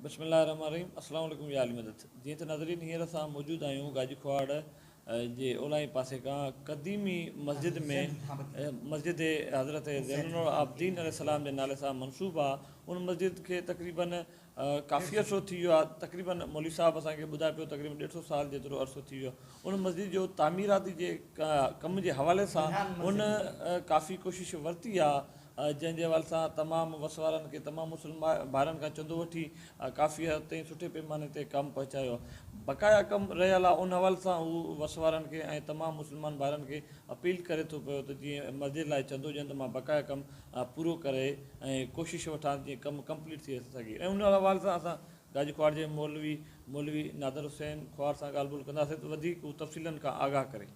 بسم الله الرحمن الرحيم السلام عليڪم يا اهل مدد جيئن ته ناظرين هينئر اسان موجود آهيون گاجي کهاڙ جي اولهائين پاسي کان قديمي مسجد ۾ مسجد حضرت زين العابدين عليه السلام جي نالي سان منسوب آ ان مسجد کي تقريبا ڪافي عرصو ٿي ويو آ تقريبا مولوي صاحب اسان کي ٻڌائي پيو تقريبا ڏيڍ سو سال جيترو عرصو ٿي ويو ان مسجد جو تعميراتي جي ڪم جي حوالي سان ان ڪافي ڪوشش ورتي آ جنهن جي حوالي سان تمام وس وارن کي تمام مسلم ڀائرن کان چندو وٺي ڪافي حد تائين سٺي پيماني تي ڪم پهچايو بقايا ڪم رهيل آهي ان حوالي سان هو وس وارن کي ۽ تمام مسلمان ڀائرن کي اپيل ڪري ٿو پيو ته جيئن مسجد لاء چندو ڏين ته مان بقايا ڪم پورو ڪري ۽ ڪوشش وٺان جيئن ڪم ڪمپليٽ ٿي سگهي ۽ ان حوالي سان اسان گاجي کوهاٽ جي مولوي مولوي نادر حسين کوهاٽ سان ڳالهه ٻولهه ڪنداسين ته وڌيڪ هو تفصيلن کان آگاهه ڪري.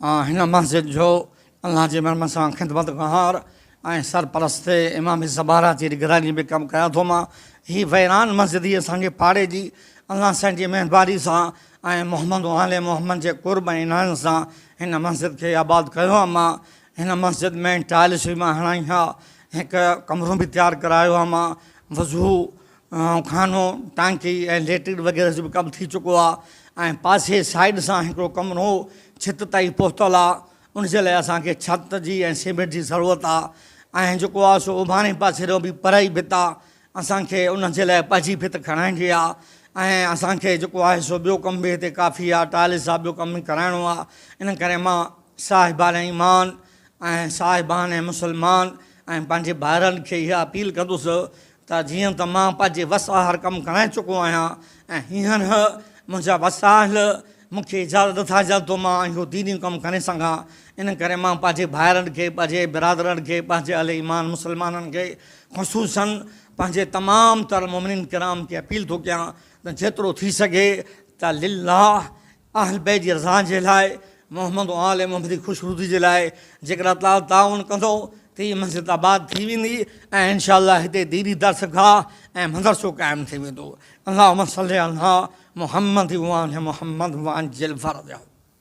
آن هن مسجد جو الله جي مرحمت سان خدمتگار ۽ سرپرست امام زبارا جي نگراني ۾ ڪم ڪيان ٿو مان هي ويران مسجد ئي اسان کي پاڙي جي الله سائين جي مهرباني سان ۽ محمد و آل محمد جي قرب ۽ عنايت سان هن مسجد کي آباد ڪيو آ مان هن مسجد ۾ ٽائلس به مان هڻائي آ هڪ ڪمرو به تيار ڪرايو آ مان وضو خانو، ٽانڪي ۽ ليٽرين وغيره جو به ڪم ٿي چڪو آ ۽ پاسي سائيڊ سان هڪڙو ڪمرو هو ڇت تائين پهتل آ ان جي لاء اسان کي ڇت جي ۽ سيمينٽ جي ضرورت آ ۽ جيڪو آ سو اوڀانئين پاسي ڏانهن به پرائي ڀت آ اسان کي ان جي لاء پجي ڀت کڻائڻي آ ۽ اسان کي جيڪو آهي سو ٻيو ڪم به هتي ڪافي آ ٽائلس جا ٻيو ڪم به ڪرائڻو آ ان ڪري مان صاحبان ايمان ۽ صاحبان مسلمان ۽ پنهنجي ڀائرن کي اها اپيل ڪندس ته جيئن ته مان پنهنجي وس آهر ڪم ڪرائي چڪو آهيان ۽ هينئر منهنجا وسائل مون کي اجازت نٿا ڏين ته مان اهو ديني ڪم ڪري سگهان، ان ڪري مان پنهنجي ڀائرن کي، پنهنجي برادرن کي، پنهنجي اهل ايمان مسلمانن کي خصوصاً پنهنجي تمام تر مؤمنين ڪرام کي اپيل ٿو ڪيان ته جيترو ٿي سگهي ته لله اهل بيت جي رضا جي لاء، محمد و آل محمد جي خوش روزي جي لاء جيڪڏهن الله تعاليٰ تعاون ڪندو ته هي مسجد آباد ٿي ويندي ۽ ان شاء الله هتي ديني درسگاهه ۽ مدرسو قائم ٿي ويندو. اللهم صلّي عليٰ محمّد وآل محمّد وعجّل فرجه.